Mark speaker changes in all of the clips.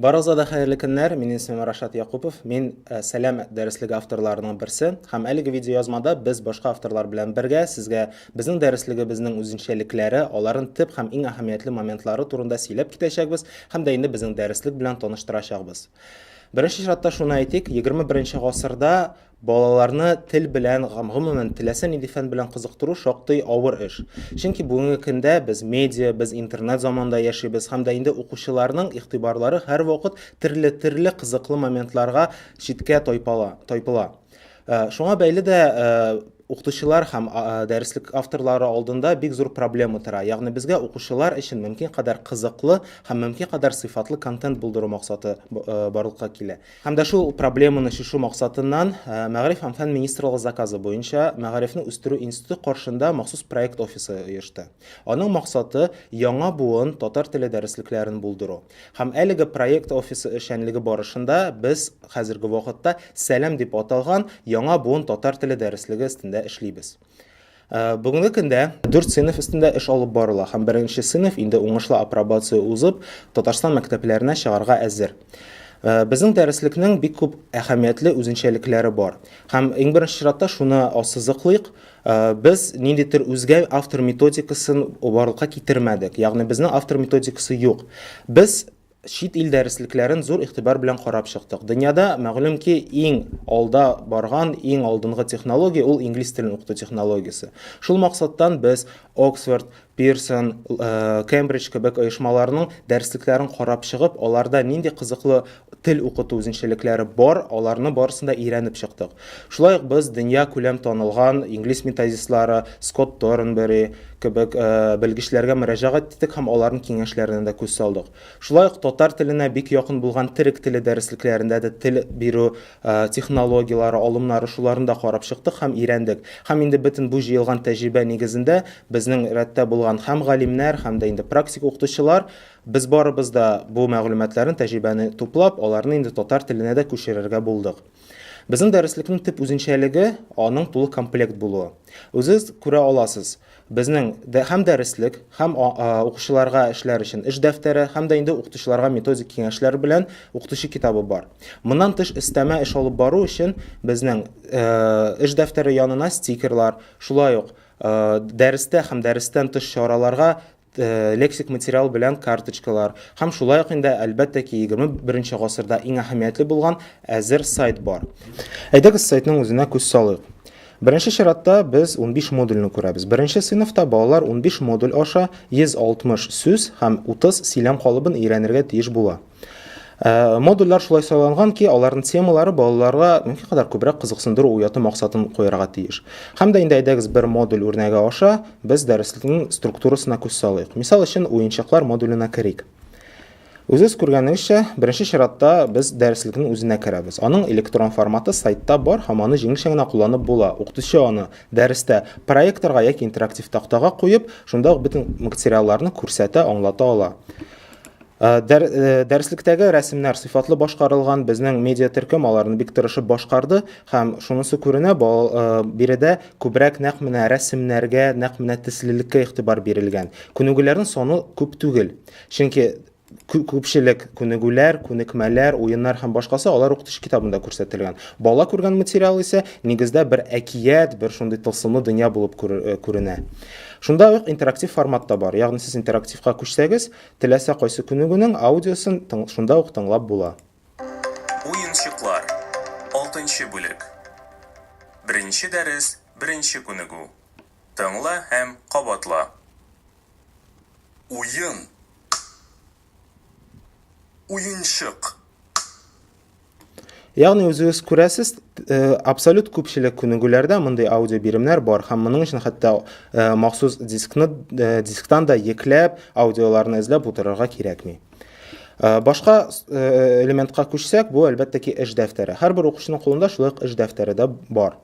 Speaker 1: Барыгызга да хәерле көннәр. Минем исемем Рашат Якупов. Мин э, Сәлам дәреслеге авторларының берсе. Һәм әлеге видеоязмада без башка авторлар белән бергә сезгә безнең дәреслегебезнең үзенчәлекләре, аларын төп һәм иң әһәмиятле моментлары турында сөйләп китәчәкбез һәм дә инде безнең дәреслек белән таныштырачакбыз. Беренче чиратта шуны әйтик, 21 гасырда Балаларны тел белән, гомумән, теләсә нинди фән белән кызыктыру шактый авыр эш. Чөнки бүгенге көндә без медиа, без интернет заманында яшибез һәм дә инде укучыларның игътибарлары һәрвакыт терле-терле кызыклы моментларга читкә тайпала, тайпыла. Шуңа бәйле дә укытучылар һәм дәреслек авторлары алдында бик зур проблема тора. Ягъни безгә укучылар өчен мөмкин кадәр кызыклы һәм мөмкин кадәр сыйфатлы контент булдыру максаты барлыкка килә. Һәм дә шул проблеманы чишү максатыннан Мәгариф һәм фән министрлыгы заказы буенча Мәгарифне үстерү институты каршында махсус проект офисы оешты. Аның максаты, яңа буын татар теле дәреслекләрен булдыру. Һәм әлеге проект офисы эшчәнлеге барышында без хәзерге вакытта Сәлам дип аталган яңа буын татар теле дәреслеге өстендә эшлибез. Э, бүгенге көндә дүрт сыйныф өстендә эш алып барыла һәм беренче сыйныф инде уңышлы апробация узып, Татарстан мәктәпләренә чыгарга әзер. Э, безнең дәреслекнең бик күп әһәмиятле үзенчәлекләре бар. Һәм иң беренче чиратта шуны ассызыклыйк, э, без ниндидер үзгә автор методикасын барлыкка китермәдек. Ягъни безнең автор методикасы юк. Без чит ил дәреслекләрен зур игътибар белән карап чыктык. Дөньяда, мәгълүм ки, иң алда барган, иң алдынгы технология ул инглиз телен укыту технологиясе. Шул максаттан без Оксфорд, Пирсон, Кембридж кебек оешмаларның дәреслекләрен карап чыгып, аларда нинди кызыклы тел укыту үзенчәлекләре бар, аларны барысын да өйрәнеп чыктык. Шулай ук без дөньякүләм танылган инглиз методистлары Скотт Торнбери кебек белгечләргә мөрәҗәгать иттек һәм аларның киңәшләренә дә күз салдык. Шулай ук татар теленә бик якын булган төрек теле дәреслекләрендә дә тел бирү технологияләре, алымнары, шуларны да карап чыктык һәм өйрәндек. Һәм инде бөтен бу җыелган тәҗрибә нигезендә безнең рәттә булган һәм галимнәр, һәм дә инде практик укытучылар, без барыбыз да бу мәгълүматларны, тәҗрибәне туплап, аларны инде татар теленә дә күчерергә булдык. Безнең дәреслекнең төп үзенчәлеге аның тулы комплект булуы. Үзегез күрә аласыз, безнең дә һәм дәреслек, һәм укучыларга эшләр өчен эш дәфтәре, һәм дә инде укытучыларга методик киңәшләр белән укытучы китабы бар. Моннан тыш өстәмә эш алып бару өчен безнең эш дәфтәре янына стикерлар, шулай ук дәрестә һәм дәрестән тыш чараларга лексик материал белән карточкалар һәм шулай ук инде әлбәттә ки 21 гасырда иң әһәмиятле булган әзер сайт бар. Әйдәгез сайтның үзенә күз салыйк. Беренче чиратта без 15 модульне күрәбез. Беренче сыйныфта балалар 15 модуль аша 160 сүз һәм 30 сөйләм калыбын өйрәнергә тиеш була. Э, модульләр шулай сайланган ки аларның темалары балаларга мөмкин кадәр күбрәк кызыксындыру уяту максатын куярга тиеш һәм дә инде әйдәгез бер модуль үрнәге аша без дәреслекнең структурасына күз салыйк мисал өчен уенчыклар модуленә керик Үзегез күргәнегезчә, беренче чиратта без дәреслекнең үзенә керәбез. Аның электрон форматы сайтта бар һәм аны җиңелчә генә кулланып була. Укытучы аны дәрестә проекторга яки интерактив тактага куеп, шунда ук бөтен материалларны күрсәтә, аңлата ала. Э, дәр, э, дәреслектәге рәсемнәр сыйфатлы башкарылган безнең медиа төркем аларны бик тырышып башкарды һәм шунысы күренә э, биредә күбрәк нәкъ менә рәсемнәргә нәкъ менә төслелеккә игътибар бирелгән күнегүләрнең саны күп түгел чөнки күпчелек күнегүләр күнекмәләр уеннар һәм башкасы алар укытыш китабында күрсәтелгән бала күргән материал исә нигездә бер әкият бер шундый тылсымлы дөнья булып күренә шунда ук интерактив формат та бар ягъни сез интерактивка күчсәгез Теләсә кайсы күнегүнең аудиосын шунда ук тыңлап була.
Speaker 2: Уенчыклар. Алтынчы бүлек. Беренче дәрес, беренче күнегү. Тыңла һәм кабатла. Уен, к-к. Уенчык, к-к.
Speaker 1: Ягъни үзегез күрәсез, э, абсолют күпчелек күнегүләрдә мондый аудио биремнәр бар һәм моның өчен хәтта э, махсус дискны э, дисктан да екләп аудиоларны эзләп утырырга кирәкми. Э, башка э, элементка күчсәк, бу әлбәттә ки эш дәфтәре. Һәрбер укучының кулында шулай ук эш дәфтәре дә бар.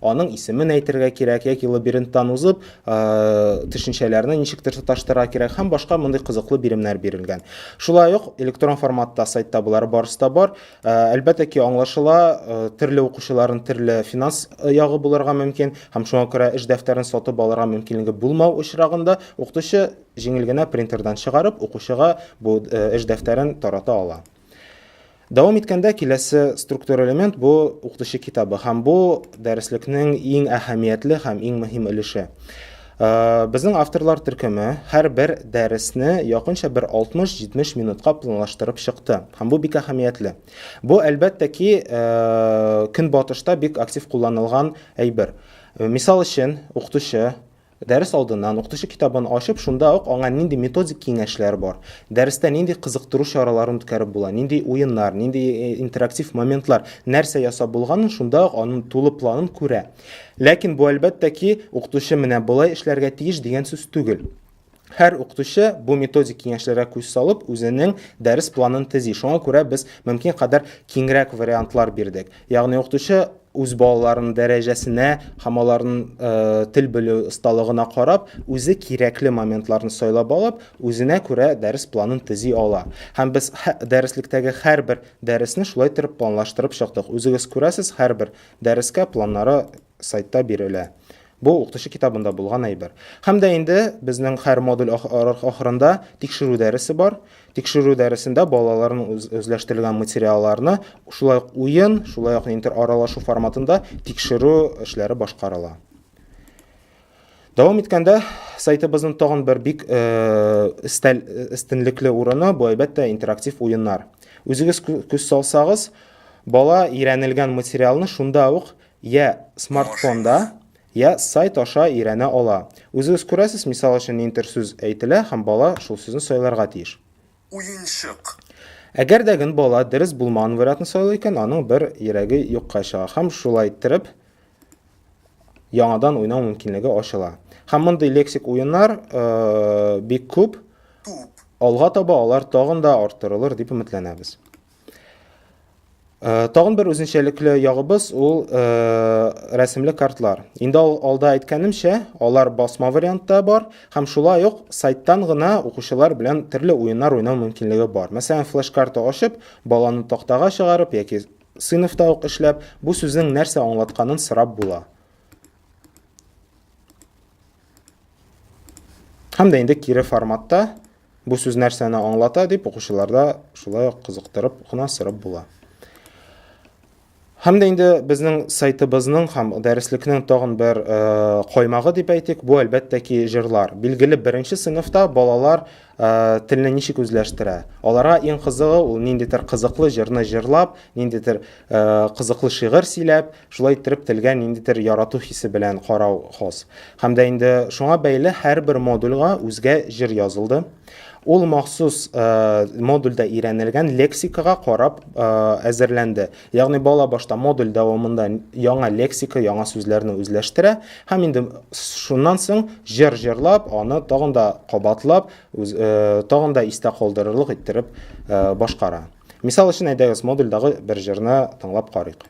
Speaker 1: Аның исемен әйтергә кирәк, яки лабиринттан узып, төшенчәләрне ничектер тоташтырырга кирәк һәм башка мондый кызыклы биремнәр бирелгән. Шулай ук электрон форматта сайтта болары барысы да бар. Әлбәттә ки, аңлашыла, төрле укучыларның төрле финанс ягы булырга мөмкин һәм шуңа күрә эш дәфтәрен сатып алырга мөмкинлеге булмау очрагында укытучы җиңел генә принтердан чыгарып, укучыга бу эш дәфтәрен тарата ала. Дәвам иткәндә киләсе структура элемент бу укытучы китабы һәм бу дәреслекнең иң әһәмиятле һәм иң мөһим өлеше. Э, безнең авторлар төркеме һәр бер дәресне якынча бер 60-70 минутка планлаштырып чыкты. Һәм бу бик әһәмиятле. Бу әлбәттә ки, э, көнбатышта бик актив кулланылган әйбер. Э, мисал өчен, укытучы Дәрес алдыннан укытучы китабын ачып, шунда ук аңа нинди методик киңәшләр бар, дәрестә нинди кызыктыру чараларын үткәреп була, нинди уеннар, нинди интерактив моментлар, нәрсә ясап булганын шунда ук аның тулы планын күрә. Ләкин бу, әлбәттә ки, укытучы менә болай эшләргә тиеш дигән сүз түгел. Һәр укытучы бу методик киңәшләргә күз салып, үзенең дәрес планын төзи. Шуңа күрә без мөмкин кадәр киңрәк вариантлар бирдек. Ягъни укытучы үз балаларының дәрәҗәсенә һәм аларның э, тел белү осталыгына карап, үзе кирәкле моментларны сайлап алып, үзенә күрә дәрес планын төзи ала. Һәм без дәреслектәге һәрбер дәресне шулай торып планлаштырып чыктык. Үзегез күрәсез, һәрбер дәрескә планнары сайтта бирелә. Бу, укытучы китабында булган әйбер. Һәм дә инде безнең һәр модуль ахырында тикшерү дәресе бар. Тикшерү дәресендә балаларның үзләштерелгән материалларны шулай ук уен, шулай ук интераралашу форматында тикшерү эшләре башкарыла. Дәвам иткәндә сайтыбызның тагын бер бик өстәл өстенлекле урыны бу әлбәттә интерактив уеннар. Үзегез күз салсагыз, бала өйрәнелгән материалны шунда ук Йә смартфонда, йә сайт аша өйрәнә ала. Үзегез күрәсез, мисал өчен нинтер сүз әйтелә һәм бала шул сүзне сайларга тиеш. Уенчык.
Speaker 2: Әгәр
Speaker 1: дә ген бала дөрес булмаган вариатны сайлый икән, аның бер йөрәге юкка чыга һәм шулай иттереп яңадан уйнау мөмкинлеге ачыла. Һәм мондый лексик уеннар бик күп. Туп. Алга таба алар тагын да арттырылыр дип өметләнәбез. Э, тагын бер үзенчәлекле ягыбыз ул э, рәсемле картлар инде алда әйткәнемчә алар басма вариантта бар һәм шулай ук сайттан гына укучылар белән төрле уеннар уйнау мөмкинлеге бар мәсәлән флеш карта ачып баланы тактага чыгарып яки сыйныфта ук эшләп бу сүзнең нәрсә аңлатканын сорап була һәм дә инде кире форматта Бу сүз нәрсәне аңлата дип укучыларда шулай ук кызыктырып кына сорап була. Һәм дә инде безнең сайтыбызның һәм дәреслекнең тагын бер э, каймагы дип әйтик, бу әлбәттә ки җырлар. Билгеле, беренче сыйныфта балалар э, телне ничек үзләштерә? Аларга иң кызыгы ул ниндидер кызыклы җырны җырлап, ниндидер э, кызыклы шигырь сөйләп, Шулай иттереп телгә ниндидер ярату хисе белән карау хос. Һәм дә инде шуңа бәйле һәрбер модульга үзгә җыр язылды. Ул махсус э, модульдә өйрәнелгән лексикага карап э, әзерләнде. Ягъни бала башта модуль дәвамында яңа лексика, яңа сүзләрне үзләштерә һәм инде шуннан соң җыр җырлап, аны тагын да кабатлап, үз, э, тагын да истә калдырырлык иттереп э, башкара. Мисал өчен әйдәгез модульдагы бер җырны тыңлап карыйк.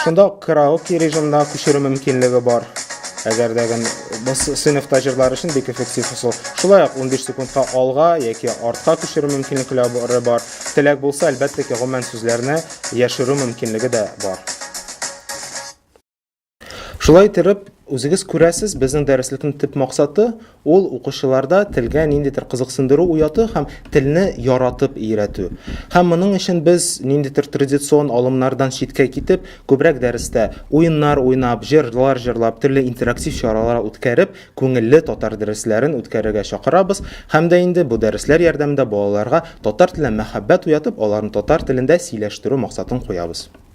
Speaker 1: Шунда ук караоке режимына күчерү мөмкинлеге бар. Әгәр дә гын без сыйныфта җырлар өчен бик эффектив усул. Шулай ук 15 секундка алга яки артка күчерү мөмкинлекләре бар. Теләк булса, әлбәттә ки, гомумән сүзләрне яшерү мөмкинлеге дә бар. Шулай иттереп, үзегез күрәсез, безнең дәреслекнең төп максаты ул укучыларда телгә ниндидер кызыксындыру уяту һәм телне яратып өйрәтү. Һәм моның өчен без ниндидер традицион алымнардан читкә китеп, күбрәк дәрестә уеннар уйнап, җырлар җырлап, төрле интерактив чаралар үткәреп, күңелле татар дәресләрен үткәрергә чакырабыз һәм дә инде бу дәресләр ярдәмендә балаларга татар теленә мәхәббәт уятып, аларны татар телендә сөйләштерү максатын куябыз.